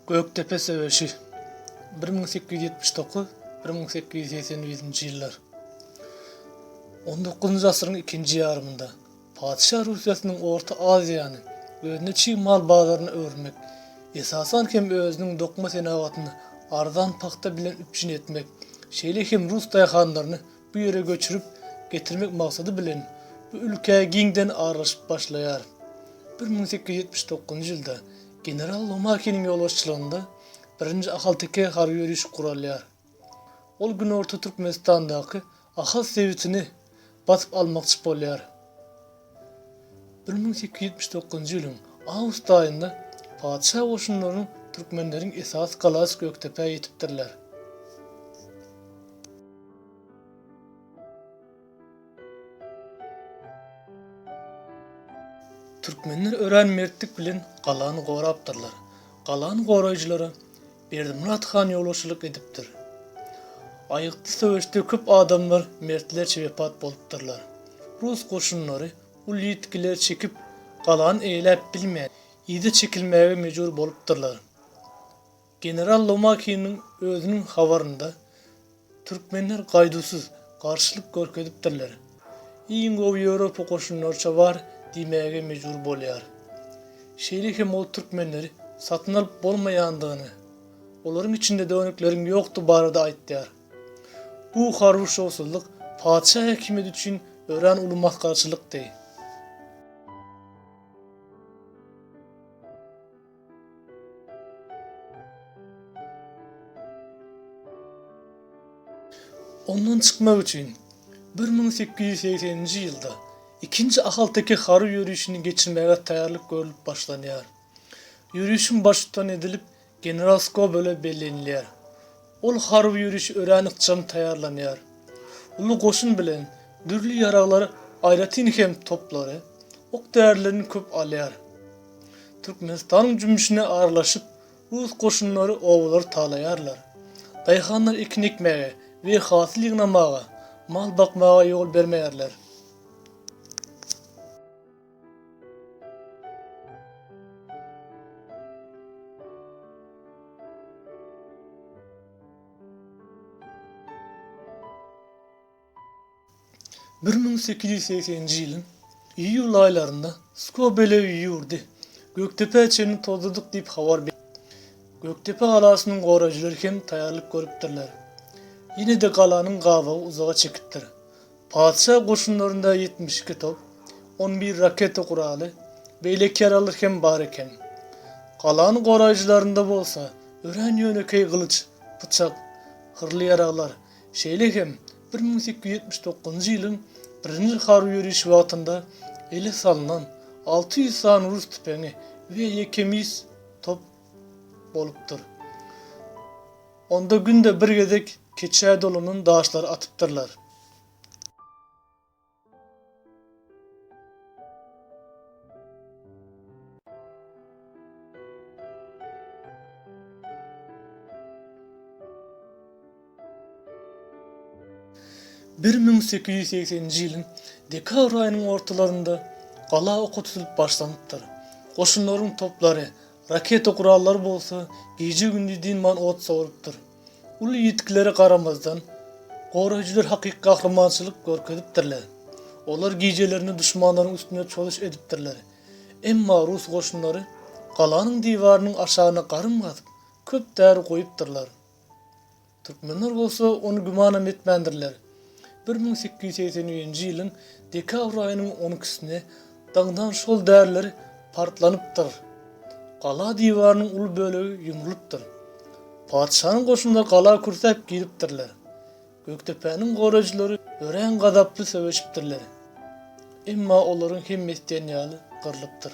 Gökdepe söweşi, bir müň sekiz ýüz ýetmiş dokuz, bir müň sekiz ýüz segsen birinji ýyllar. On dokuzynjy asyryň ikinji ýarymynda Patyşa Russiýasynyň Orta Aziýany özüne çig mal bazaryna öwürmek, esasan hem özüniň dokma senagatyny arzan pagta bilen üpjün etmek, şeýle hem rus daýhanlaryny bu ýere göçürip getirmek maksady bilen bu ülkä giňden aralaşyp başlaýar. Bir müň sekiz ýüz ýetmiş dokuzynjy ýylda general Lomakiniň ýolbaşçylygynda birinji ahalteke harby ýörişi guralýar. Ol günorta Türkmenistandaky Ahal sebitini basyp almakçy bolýar. Bir müň sekiz ýüz ýetmiş dokuzynjy ýylyň awgust aýynda patyşa goşunlarynyň türkmenleriň esasy galasy Gökdepä ýetipdirler. Türkmenler örän mertlik bilen galany gorapdyrlar. Galany goraýjylara Berdimyrat han ýolbaşçylyk edipdir. Aýgytly söweşde köp adamlar mertlerçe wepat bolupdyrlar. Rus goşunlary uly ýitgiler çekip, galany eýeläp bilmän, yza çekilmäge mejbur bolupdyrlar. General Lomakiniň özüniň habarynda, Türkmenler gaýduwsyz, garşylyk görkezipdirler. Iň gowy Ýewropa goşunlaryça bar diýmäge mejbur bolýar. Şeýle hem ol türkmenleri satyn alyp bolmaýandygyny, olaryň içinde dönükleriň ýokdugy barada aýtýar. Bu harby şowsuzlyk patyşa häkimiýeti üçin örän uly masgarçylykdy. Ondan çykmak üçin bir müň sekiz ýüz segseninji ýylda ikinji ahalteke harby ýörişini geçirmäge taýýarlyk görlüp başlanýar. Ýörişiň baştutan edilip general Skobele bellenilýär. Ol harby ýörişe örän ykjam taýýarlanýar. Uly goşun bilen dürli ýaraglar aýratyn hem toplary, ok-därilerini köp alýar. Türkmenistanyň jümmüşine aralaşyp, rus goşunlary obalary talaýarlar. Daýhanlar ekin ekmäge we hasyl ýygnamaga, mal bakmaga ýol bermeýärler. Bir müň sekiz ýüz segseninji ýylyň iýul aýlarynda Skobelew ýurdy Gökdepä çenli tozladyk diýip habar berdi. Gökdepe galasynyň goraýjylary hem taýýarlyk görüpdirler. Ýene-de galanyň gabawy uzaga çekipdir. Patyşa goşunlarynda ýetmiş iki top, on bir raketa guraly, beýleki ýaraglar hem bar eken. Galanyň goraýjylarynda bolsa örän ýönekeý gylyç, pyçak, hyrly ýaraglar, şeýle hem bir müň sekiz ýüz ýetmiş dokuzynjy ýylyň birinji harby ýörişi wagtynda ele salnan alty ýüz sany rus tüpeňi we ýeke mis top bolupdyr. Onda günde bir gezek keçä dolanan daşlary atypdyrlar. Bir müň sekiz ýüz segseninji ýylyň dekabr aýynyň ortalarynda gala oky tutulup başlanypdyr. Goşunlaryň toplary Raketa gurallary bolsa gije-gündiz dynman ot sowrupdyr. Uly ýitgilere garamazdan, goraýjylar hakyky gahrymançylyk görkezipdirler. Olar gijelerine duşmanlaryň üstüne çozuş edipdirler. Emma rus goşunlary galanyň diwarynyň aşagyna garym gazyp, köp däri goýupdyrlar. Türkmenler bolsa ony gümanam etmändirler. Bir müň sekiz ýüz segsen üçünji ýylyň dekabr aýynyň on ikisine daňdan şol däriler partlanypdyr. Gala diwarynyň uly bölegi ýumrulypdyr. Patyşanyň goşunlary gala kürsäp giripdirler. Gökdepäniň goraýjylary örän gazaply söweşipdirler. Emma olaryň hemmesi diýen ýaly gyrlypdyr.